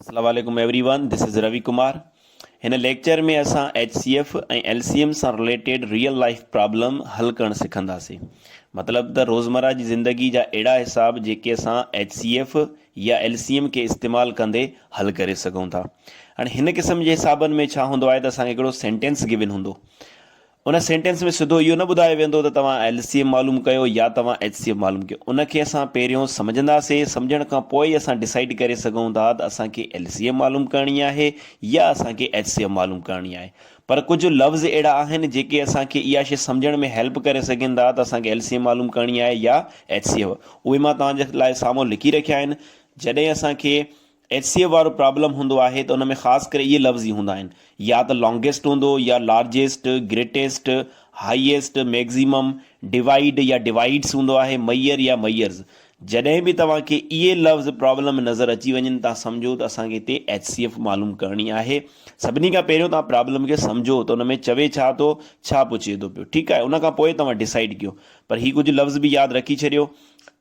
اسلام عليڪم everyone this is Ravi Kumar هن ليڪچر ۾ اسان H C F ۽ L C M سان رليٽيڊ ريئل لائف پرابلم حل ڪرڻ سکنداسين مطلب ته روزمرا جي زندگي جا اهڙا حساب جيڪي اسان ايچ سي ايف يا ايل سي ايم کي استعمال ڪندي حل ڪري سگهون ٿا هاڻي هن قسم جي حسابن ۾ ڇا هوندو آهي ته اسان کي هڪڙو سينٽينس گيون هوندو ان سينٽينس ۾ سڌو اهو نه ٻڌايو ويندو ته توهان ايل سي ايم معلوم ڪيو يا توهان ايچ سي ايف معلوم ڪيو. ان کي اسان پهريون سمجهنداسين، سمجهڻ کان پوء ئي اسان ڊسائيڊ ڪري سگهون ٿا ته اسان کي ايل سي ايم معلوم ڪرڻي آهي يا اسان کي ايچ سي ايف معلوم ڪرڻي آهي. پر ڪجهه لفظ اهڙا آهن جيڪي اسان کي اها شيء سمجهڻ ۾ هيلپ ڪري سگهن ٿا ته اسان کي ايل سي ايم معلوم ڪرڻي آهي يا ايچ سي ايف. اهي مان توهان جي لاء سامهون لکي رکيا آهن. جڏهن اسان کي ايڇ سي ايف وارو پرابلم هوندو آهي ته ان ۾ خاص ڪري اهي لفظ ئي هوندا آهن يا ته لانگيسٽ هوندو يا largest, greatest, highest, maximum, divide يا ڊوائيڊس هوندو آهي، ميئر يا ميئرز. جڏهن به توهان کي اهي لفظ پرابلم ۾ نظر اچي وڃن تان سمجهو ته اسان کي هتي ايڇ سي ايف معلوم ڪرڻي آهي. سڀني کان پهريون توهان پرابلم کي سمجهو ته ان ۾ چوي ڇا ٿو، ڇا پڇي ٿو پيو. ٺيڪ آهي ان کان پوء توهان ڊسائيڊ ڪيو. پر هي ڪجهه لفظ به ياد رکي ڇڏيو.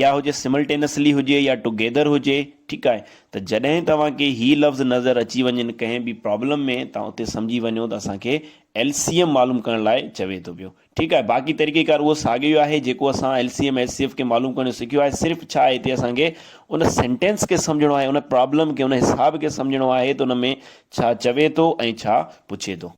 يا هجي سملٽينسلي هجي يا ٽوگيدر هجي ٺيڪ آهي ته جڏهن توهان کي هي لفظ نظر اچي وڃن ڪنهن به پرابلم ۾ توهان اتي سمجهي وڃو ته اسان کي ايل سي ايم معلوم ڪرڻ لاء چوي ٿو پيو ٺيڪ آهي باقي طريقي ڪار اهو ساڳيو ئي آهي جيڪو اسان L C M H C F کي معلوم ڪرڻ سکيو آهي صرف ڇا هتي اسان کي ان سينٽينس کي سمجهڻو آهي ان پرابلم کي ان حساب کي سمجهڻو آهي ته ان ۾ ڇا چوي ٿو ۽ ڇا پڇي ٿو.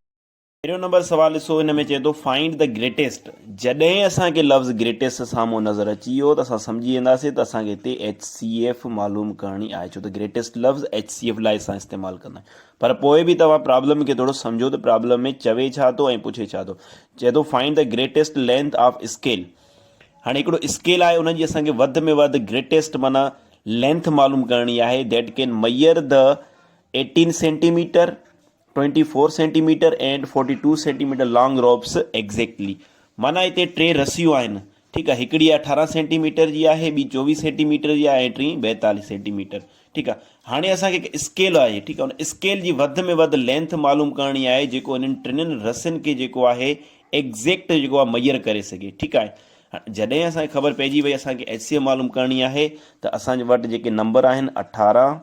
پهريون نمبر سوال ڏسو ان ۾ چئي ٿو فائنڊ دي گريٽيسٽ جڏهن اسان کي لفظ گريٽيسٽ سامهون نظر اچي ويو ته اسان سمجهي وينداسين ته اسان کي هتي ايڇ سي ايف معلوم ڪرڻي آهي ڇو ته گريٽيسٽ لفظ ايڇ سي ايف لاء اسان استعمال ڪندا آهيون پر پوء به توهان پرابلم کي ٿورو سمجهو ته پرابلم ۾ چوي ڇا ٿو ۽ پڇي ڇا ٿو چئي ٿو find the greatest length of scale هاڻي هڪڙو اسڪيل آهي ان جي اسان کي وڌ ۾ وڌ گريٽيسٽ معنيٰ لينٿ معلوم ڪرڻي آهي that can measure the eighteen centimetre twenty four centimetre and forty two centimetre long ropes exactly معنيٰ هتي ٽي رسيون آهن ٺيڪ آهي هڪڙي اٺارهن سينٽي ميٽر جي آهي ٻي چوويهه سينٽي ميٽر جي آهي ۽ ٽين ٻائيتاليهه سينٽي ميٽر ٺيڪ آهي هاڻي اسان کي هڪ اسڪيل آهي ٺيڪ آهي ان اسڪيل جي وڌ ۾ وڌ لينٿ معلوم ڪرڻي آهي جيڪو انهن ٽنن رسين کي جيڪو آهي ايگزيڪٽ جيڪو آهي ميئر ڪري سگهي ٺيڪ آهي جڏهن اسان کي خبر پئجي وئي اسان کي ايچ سي ايم معلوم ڪرڻي آهي ته اسان جي وٽ جيڪي نمبر آهن اٺارهن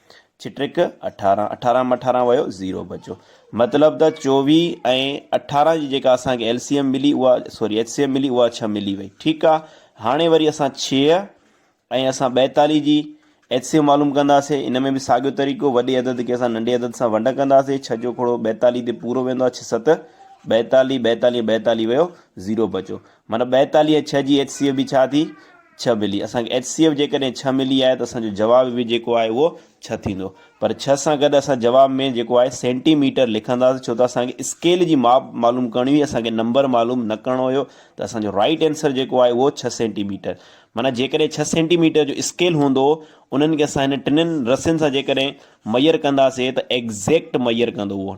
ڇٽڪ اٺارهن اٺارهن م اٺارهن ويو زيرو بچو مطلب ته چوويهه ۽ اٺارهن جي جيڪا اسانکي ايل سي ايم ملي اها سوري ايچ سي ايم ملي اها ڇهه ملي وئي ٺيڪ آ هاڻي وري اسان ڇهه ۽ اسان ٻائيتاليهه جي ايچ سي ايم معلوم ڪنداسي ان ۾ به ساڳيو طريقو وڏي عدد کي اسان ننڍي عدد سان ونڊ ڪنداسي ڇهه جو کوڙو ٻائيتاليهه تي پورو ويندو آ ڇهه ست ٻائيتاليهه ٻائيتاليهه ٻائيتاليهه ويو زيرو بچو معنيٰ ٻائيتاليهه ڇهه جي ايڇ سي ايف به ڇا ٿي؟ ڇهه ملي. اسان کي ايڇ سي ايف جيڪڏهن ڇهه ملي آهي ته اسان جو جواب به جيڪو آهي اهو ڇهه ٿيندو. پر ڇهه سان گڏ اسان جواب ۾ جيڪو آهي سينٽي ميٽر لکنداسين ڇو ته اسان کي اسڪيل جي ماپ معلوم ڪرڻي هئي اسان کي نمبر معلوم نه ڪرڻو هيو ته اسان جو رائيٽ اينسر جيڪو آهي اهو ڇهه سينٽي ميٽر معنيٰ جيڪڏهن ڇهه سينٽي ميٽر جو اسڪيل هوندو انهن کي اسان هن ٽنن رسين سان جيڪڏهن ميئر ڪنداسين ته ايگزيڪٽ ميئر ڪندو اهو.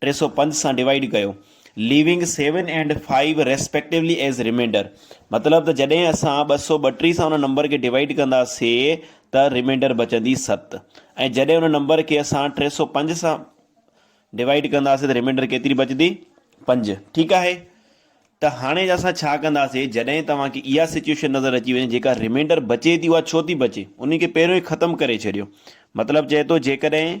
ٽي سؤ پنج سان ڊوائيڊ ڪيو leaving seven and five respectively as remainder مطلب ته جڏهن اسان ٻه سؤ ٻٽيهه سان ان نمبر کي ڊوائيڊ ڪنداسي ته ريمينڊر بچندي ست ۽ جڏهن ان نمبر کي اسان ٽي سؤ پنج سان ڊوائيڊ ڪنداسي ته ريمينڊر ڪيتري بچندي پنج ٺيڪ آهي ته هاڻي اسان ڇا ڪنداسي جڏهن توهان کي اها سچويشن نظر اچي وڃي جيڪا ريمينڊر بچي ٿي اها ڇو ٿي بچي ان کي پهريون ئي ختم ڪري ڇڏيو مطلب چئي ٿو جيڪڏهن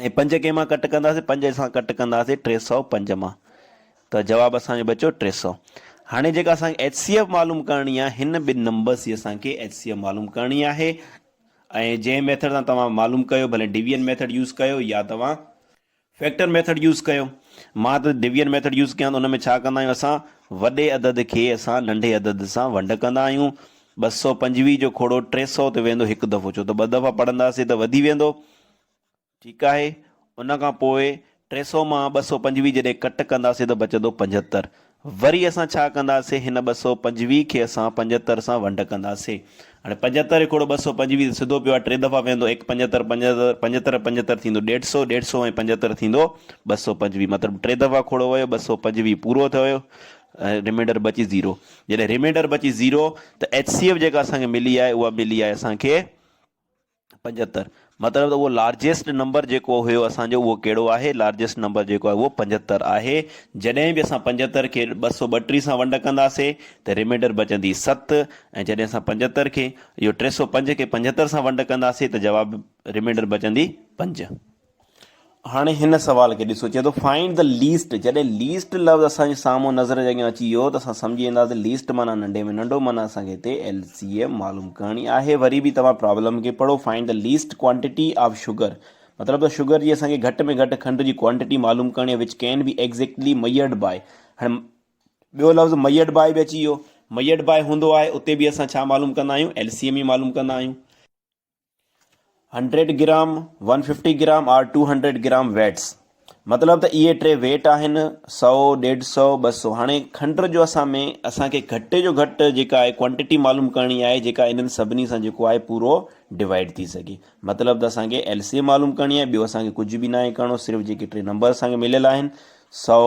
۽ پنج ڪنهن مان ڪٽ ڪنداسين؟ پنج اسان ڪٽ ڪنداسين ٽي سؤ پنج مان ته جواب اسان جو بچيو ٽي سؤ. هاڻي جيڪا اسان کي ايچ سي ايف معلوم ڪرڻي آهي هن ٻن نمبرس جي اسان کي ايچ سي ايف معلوم ڪرڻي آهي ۽ جنهن ميٿڊ سان توهان معلوم ڪيو ڀلي ڊويزن ميٿڊ يوز ڪيو يا توهان فيڪٽر ميٿڊ يوز ڪيو. مان ته ڊويزن ميٿڊ يوز ڪيان ته ان ۾ ڇا ڪندا آهيون اسان وڏي عدد کي اسان ننڍي عدد سان ونڊ ڪندا آهيون ٻه سؤ پنجويهه جو کوڙو ٽي سؤ تي ويندو هڪ دفعو ڇو ته ٻه دفعا پڙهنداسين ته وڌي ويندو ٺيڪ آهي، ان کان پوء ٽي سؤ مان ٻه سؤ پنجويهه جڏهن ڪٽ ڪنداسين ته بچندو پنجهتر. وري اسان ڇا ڪنداسين، هن ٻه سؤ پنجويهه کي اسان پنجهتر سان ونڊ ڪنداسين. هاڻي پنجهتر هڪڙو ٻه سؤ پنجويهه تي سڌو پيو آهي، ٽي دفعا ويهندو، ايڪ پنجهتر، پنجهتر، پنجهتر، پنجهتر ٿيندو ڏيڍ سؤ، ڏيڍ سؤ ۽ پنجهتر ٿيندو ٻه سؤ پنجويهه، مطلب ٽي دفعا کوڙو ويو، ٻه سؤ پنجويهه پورو ٿيو ۽ ريمينڊر بچي زيرو. جڏهن ريمينڊر بچي زيرو ته HCF جيڪا اسان کي ملي آهي، اها ملي آهي اسان کي. پنجهتر مطلب ته اهو لارجيسٽ نمبر جيڪو هيو اسان جو اهو ڪهڙو آهي لارجيسٽ نمبر جيڪو آهي اهو پنجهتر آهي جڏهن به اسان پنجهتر کي ٻه سؤ ٻٽيهه سان ونڊ ڪنداسي ته ريمينڊر بچندي ست ۽ جڏهن اسان پنجهتر کي اهو ٽي سؤ پنج کي پنجهتر سان ونڊ ڪنداسي ته جواب ريمينڊر بچندي پنج هاڻي هن سوال کي ڏسو، چئي ٿو Find the least جڏهن ليسٽ لفظ اسان جي سامهون نظر جي اڳيان اچي ويو ته اسان سمجهي وينداسين ليسٽ معنيٰ ننڍي ۾ ننڍو معنيٰ اسان کي هتي ايل سي ايم معلوم ڪرڻي آهي وري به توهان پرابلم کي پڙهو Find the least quantity of sugar مطلب ته شگر جي اسان کي گهٽ ۾ گهٽ کنڊ جي ڪوانٽيٽي معلوم ڪرڻي آهي Which can be exactly measured by هاڻي ٻيو لفظ ميئرڊ باء به اچي ويو ميئرڊ باء هوندو آهي اتي به اسان ڇا معلوم ڪندا آهيون ايل سي ايم ئي معلوم ڪندا آهيون hundred gram, one fifty gram or two hundred gram weights مطلب ته اهي ٽي ويٽ آهن سؤ، ڏيڍ سؤ، ٻه سؤ هاڻي کنڊ جو اسان ۾ اسان کي گهٽ جو گهٽ جيڪا آهي ڪوانٽيٽي معلوم ڪرڻي آهي جيڪا انهن سڀني سان جيڪو آهي پورو ڊوائيڊ ٿي سگهي مطلب ته اسان کي ايل سي ايم معلوم ڪرڻي آهي ٻيو اسان کي ڪجهه به ناهي ڪرڻو صرف جيڪي ٽي نمبر اسان کي مليل آهن سؤ،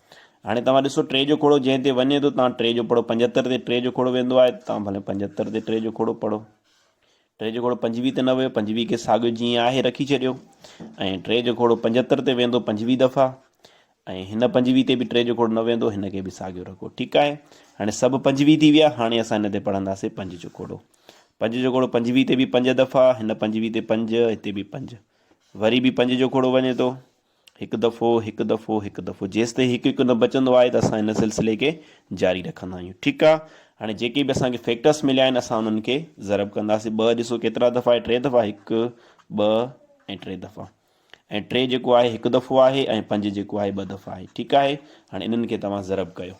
هاڻي توهان ڏسو ٽي جو کوڙو جنهن تي وڃي ٿو تان ٽي جو پڙهو پنجهتر تي ٽي جو کوڙو ويندو آهي تان ڀلي پنجهتر تي ٽي جو کوڙو پڙهو ٽي جو کوڙو پنجويهه تي نه ويو پنجويهه کي ساڳيو جيئن آهي رکي ڇڏيو ۽ ٽي جو کوڙو پنجهتر تي ويندو پنجويهه دفعا ۽ هن پنجويهه تي به ٽي جو کوڙو نه ويندو هن کي به ساڳيو رکو ٺيڪ آهي هاڻي سڀ پنجويهه ٿي ويا هاڻي اسان هن تي پڙهنداسي پنج جو کوڙو پنج جو کوڙو پنجويهه تي به پنج دفعا هن پنجويهه تي پنج هتي به پنج وري به پنج جو کوڙو وڃي ٿو هڪ دفعو هڪ دفعو هڪ دفعو جيستائين هڪ هڪ نه بچندو آهي ته اسان هن سلسلي کي جاري رکندا آهيون ٺيڪ آ هاڻي جيڪي به اسان کي فيڪٽرس مليا آهن اسان انهن کي ضرب ڪنداسين ٻه ڏسو ڪيترا دفعا آهي ٽي دفعا هڪ ٻه ۽ ٽي دفعا ۽ ٽي جيڪو آهي هڪ دفعو آهي ۽ پنج جيڪو آهي ٻه دفعا آهي ٺيڪ آهي هاڻي انهن کي توهان ضرب ڪيو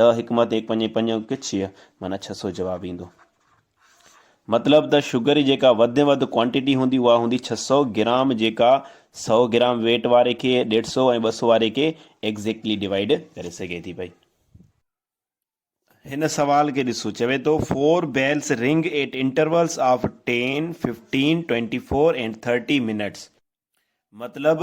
ڏهه حڪمت ايڪ پنجين پنجون ڪڇيء معنيٰ ڇهه سؤ جواب ايندو. مطلب ته شگر جي جيڪا وڌ ۾ وڌ ڪوانٽيٽي هوندي اها هوندي ڇهه سؤ گرام جيڪا سؤ گرام ويٽ واري کي ڏيڍ سؤ ۽ ٻه سؤ واري کي ايگزيڪٽلي ڊوائيڊ ڪري سگهي ٿي پئي. هن سوال کي ڏسو چوي ٿو four bells ring at intervals of ten, fifteen, twenty four and thirty minutes. مطلب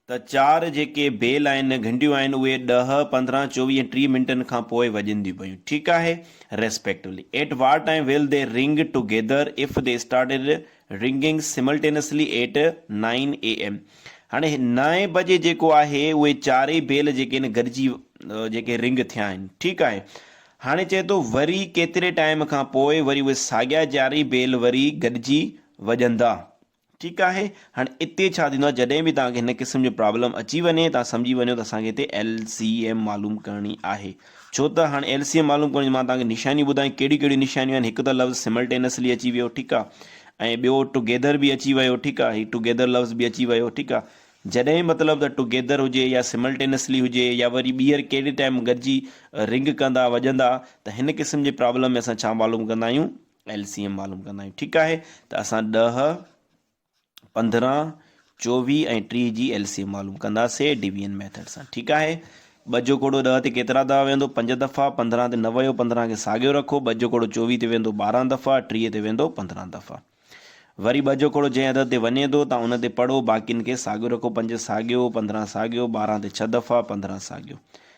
ته چار جيڪي بيل آهن، گهنڊيون آهن، اهي ڏهه، پندرهن، چوويهه ۽ ٽيهه منٽن کان پوء وڄنديون پيون. ٺيڪ آهي. Respectively. At war time will they ring together if they started ringing simultaneously at nine AM. هاڻي نائين بجي جيڪو آهي اهي چارئي بيل جيڪي آهن گڏجي جيڪي رنگ ٿيا آهن. ٺيڪ آهي. هاڻي چئي ٿو وري ڪيتري ٽائيم کان پوء وري اهي ساڳيا چارئي بيل وري گڏجي وڄندا. ٺيڪ آهي هاڻي اتي ڇا ٿيندو آهي جڏهن به توهان کي هن قسم جو پرابلم اچي وڃي توهان سمجهي وڃو ته اسان کي هتي ايل سي ايم معلوم ڪرڻي آهي ڇو ته هاڻي ايل سي ايم معلوم ڪرڻي مان توهان کي نشانيون ٻڌايون ڪهڙيون ڪهڙيون نشانيون آهن هڪ ته لفظ سملٽينسلي اچي ويو ٺيڪ آهي ۽ ٻيو ٽوگيدر به اچي ويو ٺيڪ آهي هي ٽوگيدر لفظ به اچي ويو ٺيڪ آهي جڏهن مطلب ته ٽوگيدر هجي يا سملٽينسلي هجي يا وري ٻيهر ڪهڙي ٽائم گڏجي رنگ ڪندا وڄندا ته هن قسم جي پرابلم ۾ اسان ڇا معلوم ڪندا آهيون ايل سي ايم معلوم ڪندا آهيون ٺيڪ آهي ته اسان ڏهه پندرهن چوويهه ۽ ٽيهه جي ايل سي ايم معلوم ڪنداسي ڊويزن ميٿڊ سان ٺيڪ آهي ٻه جو ڪوڙو ڏهه تي ڪيترا دفعا ويندو پنج دفعا پندرهن تي نه ويو پندرهن کي ساڳيو رکو ٻه جو ڪوڙو چوويهه تي ويندو ٻارهن دفعا ٽيهه تي ويندو پندرهن دفعا وري ٻه جو ڪوڙو جنهن عدد تي وڃي ٿو تان ان تي پڙهو باقين کي ساڳيو رکو پنج ساڳيو پندرهن ساڳيو ٻارهن تي ڇهه دفعا پندرهن ساڳيو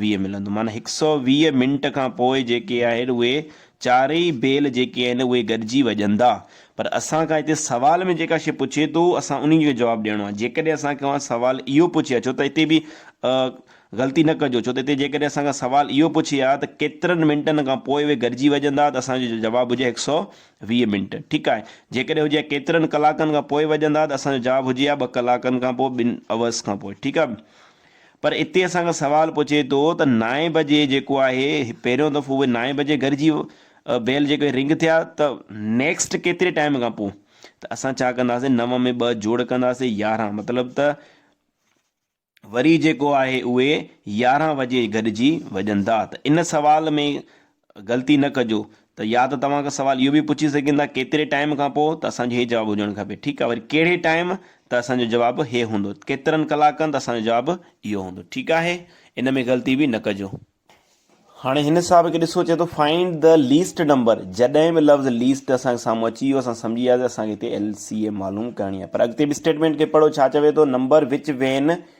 ويهه ملندو معنيٰ هڪ سئو ويهه منٽ کان پوء جيڪي آهن اهي چارئي بيل جيڪي آهن اهي گڏجي وڄندا پر اسان کان هتي سوال ۾ جيڪا شئي پڇي ٿو اسان انهي جو جواب ڏيڻو آهي جيڪڏهن اسان کان سوال اهو پڇي ها ڇو ته هتي به غلطي نه ڪجو ڇو ته هتي جيڪڏهن اسان کان سوال اهو پڇي ها ته ڪيترن منٽن کان پوء اهي گڏجي وڄندا ته اسان جو جواب هجي ها هڪ سئو ويهه منٽ ٺيڪ آهي جيڪڏهن هجي ها ڪيترن ڪلاڪن کان پوء وڄندا ته اسان جو جواب هجي ها ٻه ڪلاڪن کان پوء ٻن اورس کان پوء ٺيڪ آهي پر اتي اسان کان سوال پڇي ٿو ته نائين بجي جيڪو آهي پهريون دفعو اهي نائين بجي گهر جي بيل جيڪو هي رنگ ٿيا ته نيڪسٽ ڪيتري ٽائيم کان پوء ته اسان ڇا ڪنداسين نو ۾ ٻه جوڙ ڪنداسين يارهن مطلب ته وري جيڪو آهي اهي يارهن بجي گڏجي وڄن ٿا ته ان سوال ۾ غلطي نه ڪجو ته يا ته توهان کان سوال اهو به پڇي سگهن ٿا ڪيتري ٽائيم کان پوء ته اسان جو هي جواب هجڻ کپي ٺيڪ آهي وري ڪهڙي ٽائيم ته اسان جو جواب هي هوندو ڪيترن ڪلاڪن ته اسان جو جواب اهو هوندو ٺيڪ آهي ان ۾ غلطي به نه ڪجو. هاڻي هن صاحب کي ڏسو چئي ٿو فائنڊ ڌا ليسٽ نمبر جڏهن به لفظ ليسٽ اسان کي سامهون اچي ويو اسان سمجهي وياسي اسان کي هتي LCM معلوم ڪرڻي آهي پر اڳتي به اسٽيٽمينٽ کي پڙهو ڇا چوي ٿو نمبر وچ وين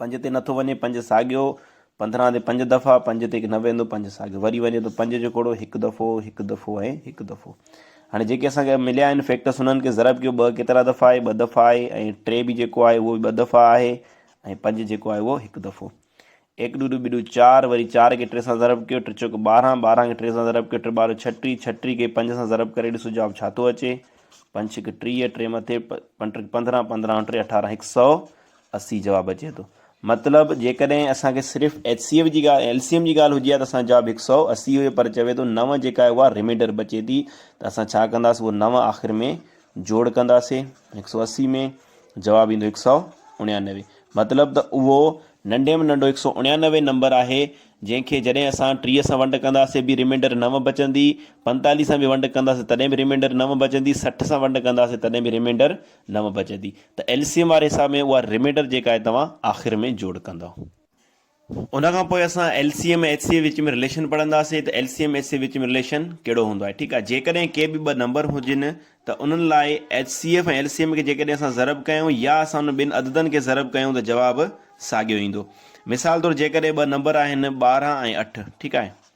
پنج تي نٿو وڃي پنج ساڳيو پندرهن تي پنج دفعا پنج تي نه ويندو پنج ساڳيو وري وڃي ٿو پنج جو ڪوڙو هڪ دفعو هڪ دفعو ۽ هڪ دفعو هاڻي جيڪي اسانکي مليا آهن فيڪٽرس انهن کي ضرب ڪيو ٻه ڪيترا دفعا آهي ٻه دفعا آهي ۽ ٽي به جيڪو آهي اهو به ٻه دفعا آهي ۽ پنج جيڪو آهي اهو هڪ دفعو ايڪ ڏو ڏو ٻي ڏو چار وري چار کي ٽي سان ضرب ڪيو ٽي چوڪ ٻارهن ٻارهن کي ٽي سان ضرب ڪيو ٽي ٻارهن ڇٽي ڇٽي کي پنج سان ضرب ڪري ڏسو جواب ڇا ٿو اچي پنج ڇڪ ٽيهه ٽي مٿي پنج ٽي پندرهن پندرهن ٽي اٺارهن هڪ سؤ اسي جواب اچي ٿو مطلب جيڪڏهن اسان کي صرف ايچ سي ايف جي ڳالهه ايل سي ايم جي ڳالهه هجي ها ته اسان جو جواب هڪ سؤ اسي هئي پر چوي ٿو نو جيڪا آهي اها ريمينڊر بچي ٿي ته اسان ڇا ڪنداسي اهو نو آخر ۾ جوڙ ڪنداسي هڪ سؤ اسي ۾ جواب ايندو هڪ سؤ اڻيانوي مطلب ته اهو ننڍي ۾ ننڍو هڪ سؤ اڻيانوي نمبر آهي جنهن کي جڏهن اسان ٽيهه سان ونڊ ڪنداسي به ريمينڊر نو بچندي پنتاليهه سان به ونڊ ڪنداسي تڏهن به ريمينڊر نو بچندي سٺ سان ونڊ ڪنداسي تڏهن به ريمينڊر نو بچندي ته ايل سي ايم واري حساب ۾ اها ريميڊر جيڪا آهي توهان آخر ۾ جوڙ ڪندو. ان کان پوء اسان L C M ۽ H C F وچ ۾ رليشن پڙهنداسين ته L C M H C F وچ ۾ رليشن ڪهڙو هوندو آهي ٺيڪ آهي جيڪڏهن ڪي به ٻه نمبر هجن ته انهن لاء H C F ۽ L C M کي جيڪڏهن اسان ضرب ڪيون يا اسان انهن ٻن عددن کي ضرب ڪيون ته جواب ساڳيو ايندو مثال طور جيڪڏهن ٻه نمبر آهن ٻارهن ۽ اٺ ٺيڪ آهي.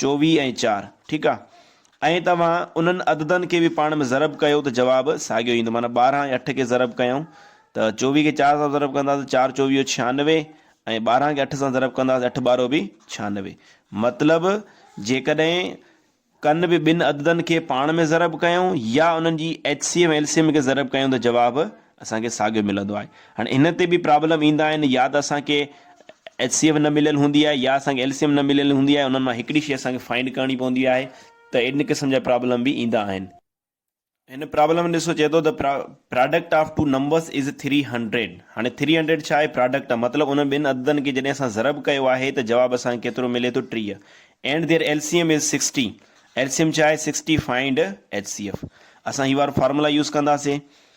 چوويهه ۽ چار ٺيڪ آ ۽ توهان انهن عددن کي به پاڻ ۾ ضرب ڪيو ته جواب ساڳيو ايندو معنيٰ ٻارهن ۽ اٺ کي ضرب ڪيائون ته چوويهه کي چار سان ضرب ڪنداسين چار چوويهو ڇهانوي ۽ ٻارهن کي اٺ سان ضرب ڪنداسين اٺ ٻارهو به ڇهانوي مطلب جيڪڏهن ڪن به ٻن عددن کي پاڻ ۾ ضرب ڪيائون يا انهن جي H C M L C M کي ضرب ڪيائون ته جواب اسان کي ساڳيو ملندو آهي. هاڻي هن تي به پرابلم ايندا آهن يا ته اسان کي ايچ سي ايف نه مليل هوندي آهي يا اسان کي ايل سي ايم نه مليل هوندي آهي انهن مان هڪڙي شي اسان کي فائنڊ ڪرڻي پوندي آهي ته ان قسم جا پرابلم به ايندا آهن. هن پرابلم ۾ ڏسو چئي ٿو ته product of two numbers is three hundred هاڻي ٿري هنڊريڊ ڇا آهي پراڊڪٽ آف مطلب انهن ٻن عددن کي جڏهن اسان ضرب ڪيو آهي ته جواب اسان کي ڪيترو ملي ٿو ٽيهه and their L C M is sixty L C M ڇا آهي sixty find H C F اسان هي وارو فارمولا يوز ڪنداسين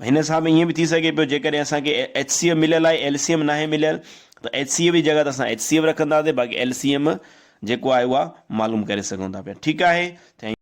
هن حساب ۾ ائين به ٿي سگهي پيو جيڪڏهن اسان کي ايچ سي ايف مليل آهي ايل سي ايم ناهي مليل ته ايچ سي ايف جي جڳهه تي اسان ايچ سي ايف رکنداسين باقي ايل سي ايم جيڪو آهي اها معلوم ڪري سگهون ٿا پيا ٺيڪ آهي.